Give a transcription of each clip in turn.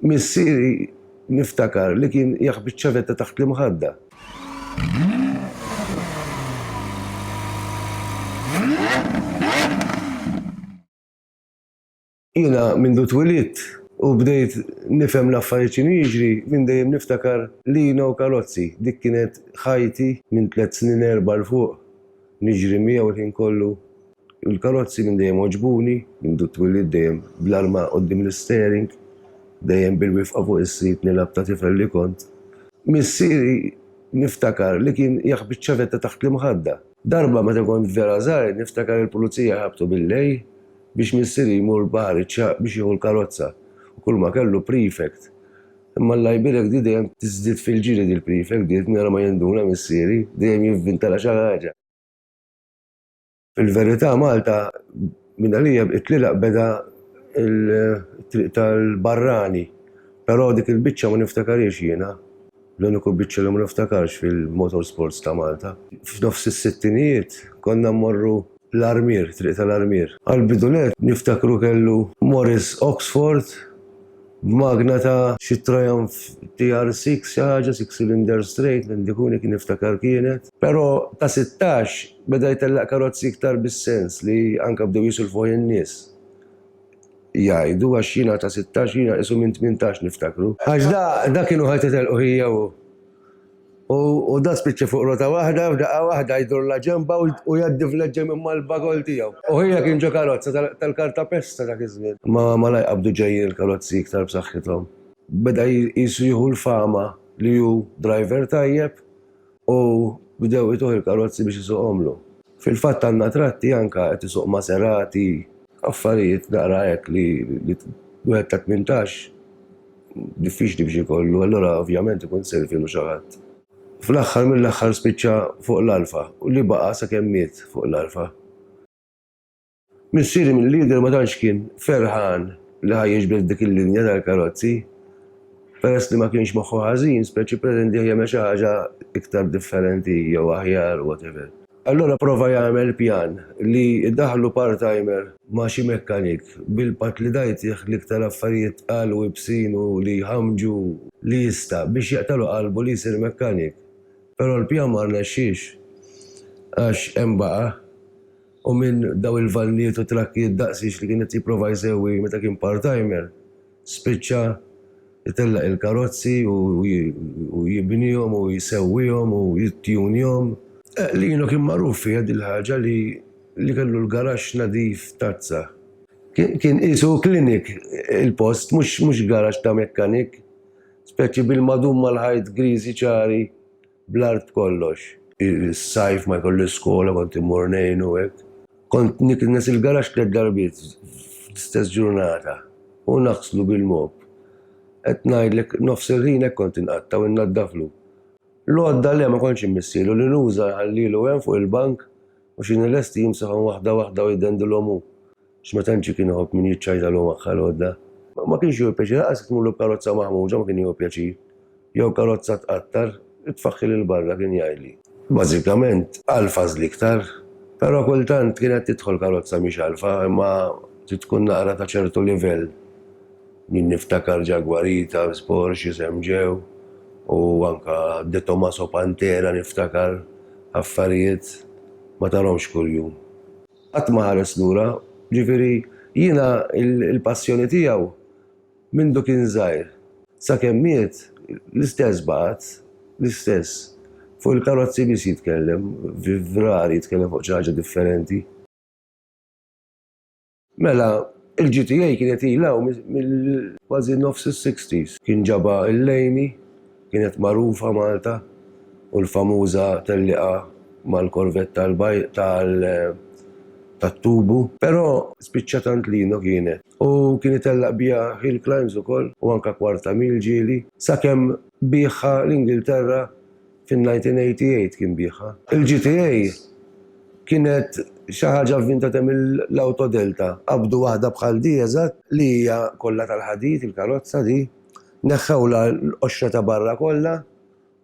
Missieri niftakar li kien jaħbi ċ-ċavetta taħt l-imħadda. Jiena mindu twilidt u bdejt nifhem l-affarijiet x'inhu jiġri, minn dejjem niftakar Lina u Kalozzi. Dik kienet ħajti minn tliet snin erba' 'l fuq. Niġri miegħu l-ħin kollu Il-karozzi minn dejjem għoġbuni, mindu twillidt dejjem bl-arma quddiem l-isteering, dejjem bil-wifqa fuq is-sit nilgħab ta' tifel li kont. Missieri niftakar li kien jaħbi ċ-ċavetta taħt l-imħadda. Darba meta kont vera żgħir niftakar il-pulizija ħabtu bil-lejl biex missieri jmur Baħar iċ-Ċagħaq biex jieħu l-karozza u kulma kellu prefect. Imma Alla jbierek di dejjem tiżdied fil-ġiri dil-prefect di qed nara ma jinduna missieri, dejjem jivvinta la xi ħaġa. Fil-verità Malta minn għalija t-tlieq beda il-triq tal-barrani, però dik il-biċċa ma niftakarhiex jiena, l-uniku biċċa li ma niftakarx fil-motorsports ta' Malta. F'nofs is-sittinijiet konna mmorru l-Armier, Triq tal-Armier. Għall-bidu nett niftakru kellu Morris Oxford b'magna ta' xi Triumph TR-Six xi ħaġa, six cylinder straight, m'għandi kuni kien niftakar kienet. Però ta' sittax Beda jtellaq karozzi iktar bis-sens li anke bdew jisilfuh in-nies jgħidu għax jiena ta' sittax jiena qisu minn tmintax niftakru. Għax da kienu ħa titelqu hija u hu u da spiċċa fuq rota waħda f'daqqa waħda jdurla ġenbha u jgħaddi vleġġa minn mal-bagol tiegħu. U hija kien ġo karozza tal-kartapesta dak iż-żmien. Ma malaj qabdu ġejjin il-karozzi iktar b'saħħithom. Beda qisu jieħu l-fama li hu driver tajjeb u bdew ituh il-karozzi biex isuqhomlu. Fil-fatt għandna tratti anke qed isuq Maserati, affarijiet naqra hekk li wieħed ta' tmintax diffiċli biex ikollu, allura ovvjament ikun sirvielu xi ħadd. Fl-aħħar mill-aħħar spiċċa fuq l-Alfa u li baqa' sakemm miet fuq l-Alfa. Missieri mill-Leader ma tantx kien ferħan li ħa jiġbed dik il-linja tal-karozzi. Peress li ma kienx moħħu ħażin, spiss ippretendih jagħmel xi ħaġa iktar differenti jew aħjar, whatever. Allura pprova jagħmel pjan li jdaħħlu part-timer ma' xi mekkanik, bil-patt li da jtih l-iktar affarijiet tqal u ibsin u li jħammġu li jista', biex jaqtagħlu qalbu li jsir mekkanik. Però l-pjan ma rnexxiex, għax hemm baqa'. u minn dawn il-vannijiet u trakkijiet daqsiex li kien qed jipprova jsewwi meta kien part-timer, spiċċa jtellaq il-karozzi u jibnihom u jsewwihom u jittjunjhom. Lino kien magħruf fiha dil-ħaġa li li kellu l-garaxx nadif tazza. Kien qisu clinic il-post, mhux garaxx ta' mekkanik, speċi bil-madum mal-ħajt griżi ċari Bl-art kollox. Is-sajf ma jkollix skola kont immur ngħinu hekk. Kont niknes il-garaxx tliet darbiet fl-istess ġurnata u naħslu bil-mop. Qed ngħidlek nofs il-ħin hekk kont inqatta' u innaddaflu. L-għodda le ma kontx immissielu li nuża nħallielu hemm fuq il-bank u xi nilesti jimsahom waħda waħda u jdendilhom hu. X'ma tantx ikun iħobb min jiċċajtalu magħha l-għodda. Ma kienx jieħu pjaċir, lanqas jekk tmurlu b'karozza maħmuġa ma kien jieħu pjaċir. Jew karozza tqattar, itfaħħil 'il barra, kien jgħidli. Bażikament, għalfa żliktar. Però kultant kienet tidħol karozza mhix għalfa, imma trid tkun naqra ta' ċertu livell. Jien niftakar Jaguarita, Porsche, SMJ, u anke De Tomaso Pantera niftakar, affarijiet ma tarhomx kuljum. Qatt ma ħares lura, ġifieri jiena l-passjoni tiegħu mindu kien żgħir. Sakemm miet, l-istess baqgħet, l-istess. Fuq il-karozzi biss jitkellem, rari jitkellem fuq xi ħaġa differenti. Mela, il-GTA kienet ilha hawn mill-kważi nofs is-sixties. Kien ġabha il-lejni, Kienet magħrufa Malta u l-famuża tellieqa mal-korvett tat-tubu. Però spiċċa tant lino kienet. U kien itellaq biha Hill Climbs ukoll u anke Kwarta Mil ġieli. Sakemm biegħha l-Ingilterra fin-1988 kien biegħha. Il-GTA kienet xi ħaġa vvintata mill-Autodelta. Qabdu waħda bħal di eżatt li hija kollha tal-ħadid, il-karozza di. Neħħewlha l-qoxra ta' barra kollha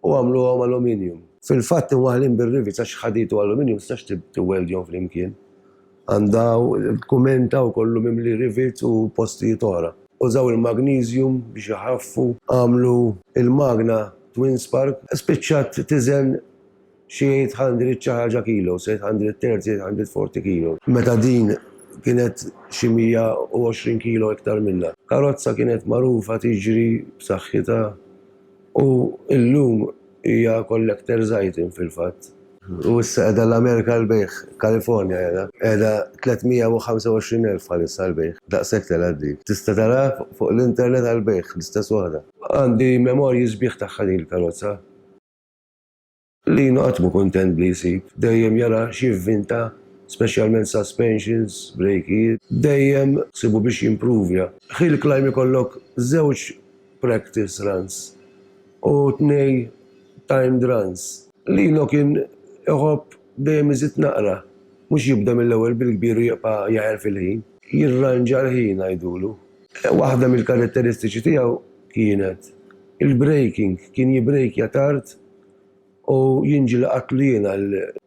u għamluhom aluminium. Fil-fatt imwaħħlin bir-rivets għax ħadid u aluminium ma tistax tiwweldjhom flimkien. Għandha kumenta u kollu mimli rivets u postijiet oħra. Użaw il-magniżjum biex iħaffu. Għamlu l-magna twin spark. Spiċċat tiżen xi eight hundred xi ħaġa kilos, eight hundred thirty, eight hundred forty kilos. Meta din kienet xi mija u għoxrin kilo iktar minnha. Karozza kienet magħrufa tiġri b'saħħitha u llum hija collector's item fil-fatt. U issa qiegħda l-Amerika għall-bejgħ, California qiegħda. Qiegħda tliet mija u ħamsa u għoxrin elf bħalissa għall-bejgħ. Daqshekk telgħet din. Tista' taraha fuq l-internet għall-bejgħ, l-istess waħda. Għandi memorji sbieħ tagħha din il-karozza. Lino qatt mhu kuntent b'li jsib, dejjem jara x'jivvinta, speċjalment suspensions, brejkijiet, dejjem ħsiebu biex jimprovja. Hill climb ikollok żewġ practice runs u tnej timed runs. Lino kien iħobb Dejjem iżid naqra. Mhux jibda mill-ewwel bil-kbir u jibqa' jagħher fil-ħin. Jirranġa l-ħin ngħidulu. Waħda mill-karatteristiċi tiegħu kienet il-breaking, kien jibbrejkja tard u jien ġieli qattlu jien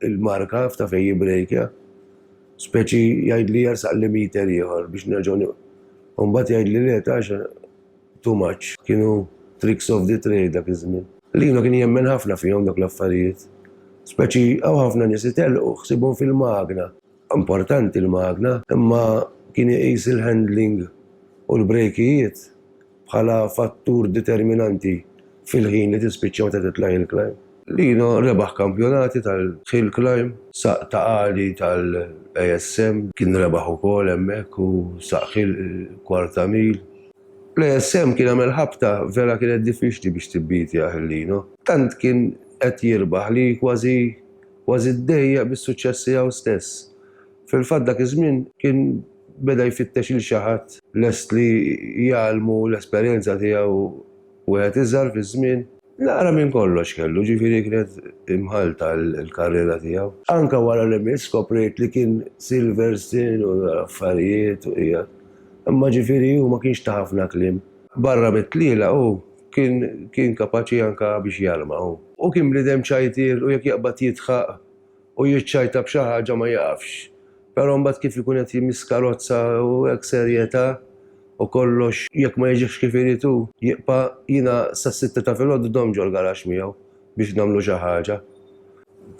il-marka f'ta' fejn jibbrejkja. Speċi jgħidli jersaqli meter ieħor biex nerġgħu nieqfu. U mbagħad jgħidli le ta' Too much. Kienu tricks of the trade dak iż-żmien. Lino kien jemmen ħafna fihom dawk l-affarijiet. Speċi hawn ħafna nies itellqu ħsiebhom fil-magna. Importanti l-magna, imma kien iqis il-handling u l-brejkijiet bħala fattur determinanti fil-ħin li tispiċċa meta titlaq hill climb. Lino rebaħ kampjonati tal-hill climb, saq ta' għali tal-ASM kien rebaħ ukoll hemmhekk u saq hill kwarta mil. L-ASM kien għamel ħabta vera kienet diffiċli biex tibbietjah il-Lino. Tant kien qed jirbaħ li kważi kważi ddejjaq bis-suċċess tiegħu stess. Fil-fatt dak iż-żmien kien beda jfittex lil xi ħadd lest li jgħallmu l-esperjenza tiegħu Wieħed iżgħar fiż-żmien. Naqra minn kollox kellu, ġifieri kienet imħallta l-karriera tiegħu. Anke wara li miet skoprejt li kien Silverstein u l-affarijiet u qiegħed. Imma ġifieri hu ma kienx ta' ħafna kliem. Barra mit-tlielaq hu kien kien kapaċi anke biex jarma hu. Hu kien bniedem ċajtiel u jekk jaqbad jidħaq u jiċċajta b'xi ħaġa ma jaqafx. Però mbagħad kif ikun qed jimxi skarozza u hekk serjetà u kollox jekk ma jiġix kif irid hu jibqa' jiena sas-sitta ta' filgħodu domm ġol-garaxx miegħu biex nagħmlu xi ħaġa.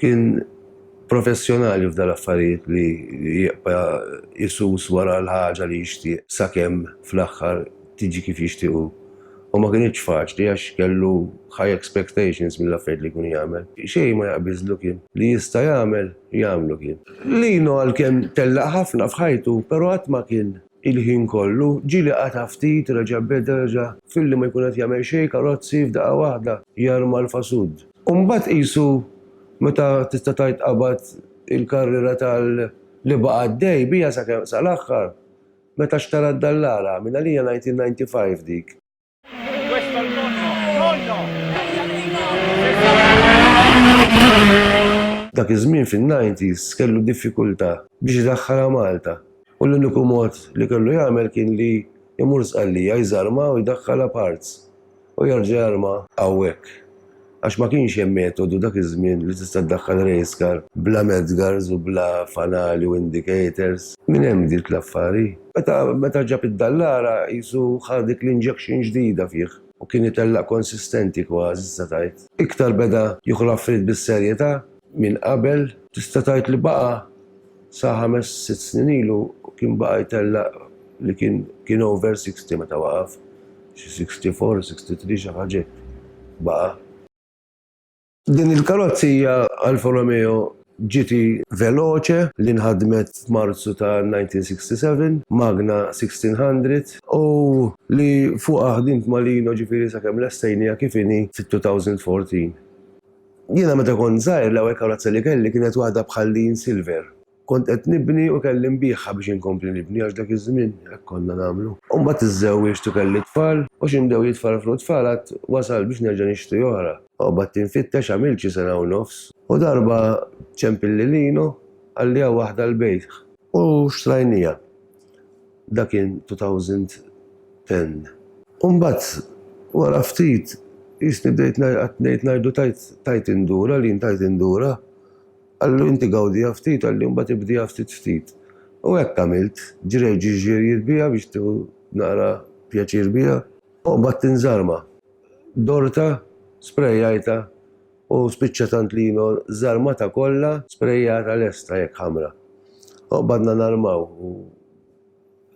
Kien professjonali f'dal-affarijiet li jibqa' isus wara l-ħaġa li jixtieq sakemm fl-aħħar tiġi kif jixtieq hu. u ma kinitx faċli għax kellu high expectations mill-affarijiet li jkun jagħmel. Xejn ma jaqbiżlu kien. Li jista' jagħmel, jagħmlu kien. Lino għalkemm tellaq ħafna f'ħajtu, però qatt ma kien il-ħin kollu, ġieli qata' ftit, reġa' beda, reġa' filli ma jkun qed jagħmel xejn, karozzi, f'daqqa waħda jarma l-fasud. U mbagħad qisu meta tista' tgħid qabad il-karriera tal-li baqa' għaddej biha sakemm sal-aħħar, Meta xtara d-dallara, minn għalija 1995 dik. Dak iż-żmien fin-nineties kellu diffikultà biex idaħħalha Malta u l-uniku mod li kellu jagħmel kien li jmur Sqallija jżarmha u jdaħħalha b'hards. U Jorge arma hawnhekk. Għax ma kienx hemm metodu dak iż-żmien li tista' ddaħħal race car bla medgars u bla fanali u indicators. Minn hemm bdiet l-affar, hi. Meta meta ġab id-Dallara qisu ħa dik l-injection ġdida fih u kien itellaq konsistenti kważi tista' tgħid. Iktar beda jieħu l-affarijiet bis-serjetà minn qabel. Tista' tgħid li baqa' Sa ħames, sitt snin ilu kien baqa' jtellaq li kien kien over sixty meta waqaf. Xi sixty four, sixty three xi ħaġa hekk baqa'. Din il-karrozzija Alfa Romeo GT Veloce li nħadmet f'Marzu ta' 1967, Magna 1600, u li fuqha ħdimt ma' Lino ġifieri sakemm lestejniha kif inhi fit-2014. Jiena meta kont żgħir l-ewwel karozza li kelli kienet waħda bħal din silver. Kont qed nibni u kelli nbiegħha biex inkompli nibni għax dak iż-żmien hekk konna nagħmlu. Imbagħad iżżewwiġt u kelli tfal u xi mdew jitfarfru t-tfal għad wasalt biex nerġa' nixtri oħra. Qgħadt infittex għamilt xi sena u nofs u darba ċempilli Lino qalli hawn waħda l-bejgħ. U xtrajnieha. Dak kien 2010. U mbagħad wara ftit qisni bdejt qatt ngħid ngħidu tajt tajt indur għal jien tajt indura. Qallu inti gawdiha ftit għal jien mbagħad ibdiha ftit ftit. U hekk għamilt, ġrejt xi ġirjiet biha biex tieħu naqra pjaċir biha. U mbagħad tinżarma. Dortha, sprejajtha U spiċċa tant lino żarmata kollha sprejjata lesta jekk ħamra. Oqbadna narmaw u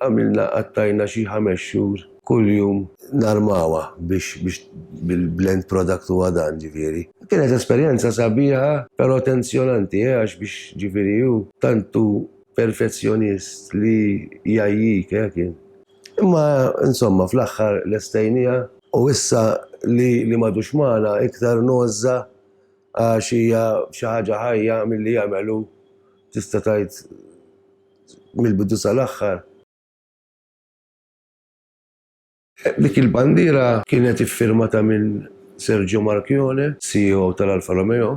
għamilna qattajna xi ħames xhur kuljum narmawha biex biex bil-end product huwa dan ġifieri. Kienet esperjenza sabiħa però tensjonanti eh għax biex ġifieri hu tant hu perfezzjonist li jgħajjik eh kien. Imma insomma fl-aħħar lestejniha. U issa li m'għadux magħna iktar ngħożżha għax hija xi ħaġa ħajja milli jagħmel hu, tista' tgħid mill-bidu sal-aħħar. Dik il-bandiera kienet iffirmata minn Sergio Marchionne, CEO tal-Alfa Romeo,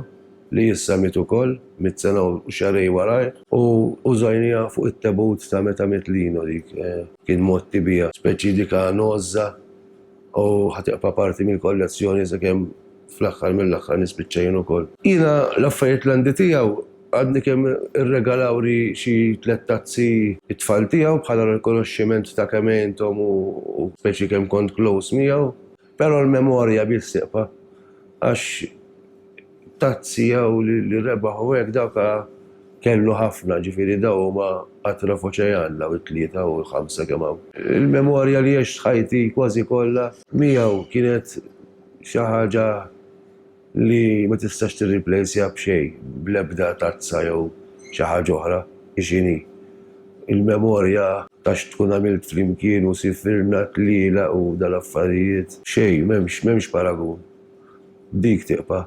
li issa miet ukoll, miet sena u xahrej warajh. U użajniha fuq it-tebut ta' meta miet Lino dik kien mgħotti biha. Speċi dik għanożża u ħa tibqa' parti mill-kollezzjoni sakemm fl-aħħar mill-aħħar nispiċċa jien ukoll. Jiena l-affarijiet l-għandi tiegħu għadni kemm irregalawli xi tliet tazzi t-tfal tiegħu bħala rikonoxximent ta' kemm għinthom u speċi kemm kont close miegħu. Pero l-memorja biex sieqfa għax tazzi jew li rebaħ u hekk dawk kellu ħafna ġifieri daw huma qatra f'oċejan daw it-tlieta u l-ħamsa kemm hawn. Il-memorja li għext ħajti kważi kollha miegħu kienet xi ħaġa li ma tistax tirriplejsja b'xejn, bl-ebda tazza jew xi ħaġa oħra, hi x'inhi. Il-memorja ta' x'tkun għamilt flimkien u sifirna t-tlielaq u dal-affarijiet, xejn, m'hemmx, m'hemmx paragun. Dik tiqpa'.